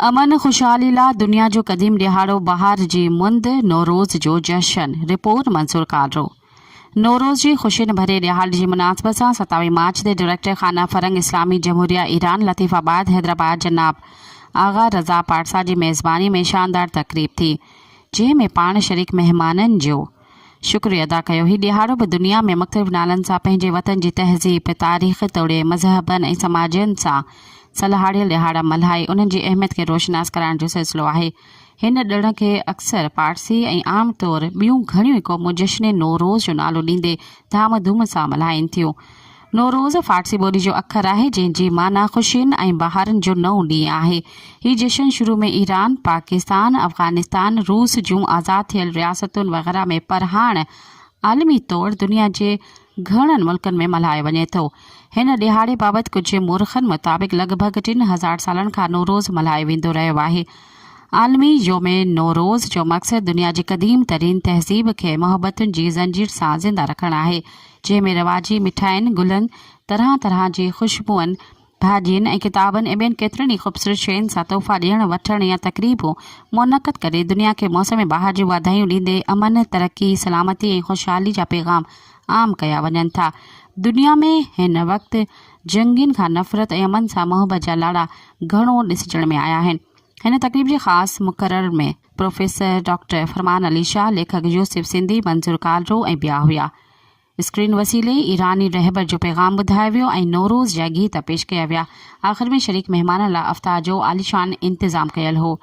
امن خوشحالي لا دنيا جو قديم ڏهاڙو بهار جي مند نوروز جو جشن، رپورٽ منصور ڪالرو. نوروز جي خوشين ڀرئي ڏهاڙي جي مناسبت سان ستاويهه مارچ تي ڊئريڪٽر خانه فرنگ اسلامي جمهوريه ايران لطيف آباد حيدرآباد جناب آغا رضا پارسا جي ميزباني ۾ شاندار تقريب ٿي جنهن ۾ پاڻ شريڪ مهمانن جو شڪر ادا ڪيو. هي ڏيهاڙو به دنيا ۾ مختلف نالن سان پنهنجي وطن جي تهذيب، تاريخ توڙي مذهبن ۽ سماجن سان سلهاڙيل ڏيهاڙا ملهائي انهن جي اهميت کي روشناس ڪرائڻ جو سلسلو آهي. هن ڏڻ کي اڪثر پارسي ۽ عام طور ٻيون گهڻيون ئي قومون جشن نوروز جو نالو ڏيندي ڌام ڌوم سان ملهائين ٿيون. نوروز فارسي ٻولي جو اکر آهي، جنهن جي معنيٰ خوشين ۽ بهارن جو نئون ڏينهن آهي. هي جشن شروع ۾ ايران، پاڪستان، افغانستان، روس جون آزاد ٿيل رياستون وغيره ۾ پر هاڻ عالمي طور دنيا جي گهڻن ملڪن ۾ ملهايو وڃي ٿو. هن ڏهاڙي بابت ڪجهه مورخن مطابق لڳ ڀڳ ٽن هزار سالن کان نوروز ملهايو ويندو رهيو آهي. عالمي يوم نوروز جو مقصد دنيا جي قديم ترين تهذيب کي محبتن جي زنجير سان زنده رکڻ آهي. جنهن ۾ رواجي مٺاين، گلن، طرح طرح جي خوشبوئن، ڀاڄين ۽ ڪتابن ۽ ٻين ڪيترين ئي خوبصورت شين سان تحفا ڏيڻ وٺڻ يا تقريبون منعقد ڪري دنيا کي موسم بهار جون واڌايون ڏيندي امن، ترقي، سلامتي ۽ خوشحالي جا پيغام عام ڪيا وڃن ٿا. دنيا ۾ هن وقت جنگين کان نفرت ۽ امن سان محبت جا لاڙا گهڻو ڏسجڻ ۾ آيا آهن. هن تقريب جي خاص مقرر ۾. پروفيسر ڊاڪٽر فرمان علي شاهه، ليکڪ يوسف سنڌي، منظور ڪالرو ۽ ٻيا هيا. اسڪرين وسيلي ايراني رهبر جو پيغام ٻڌايو ويو ۽ نوروز جا گيت پيش ڪيا ويا. آخر ۾ شريڪ مهمانن لاء افطار جو عاليشان انتظام ڪيل هو.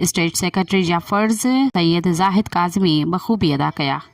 اسٽيٽ سيڪريٽري جا فرض سيد زاهد ڪاظمي بخوبي ادا ڪيا.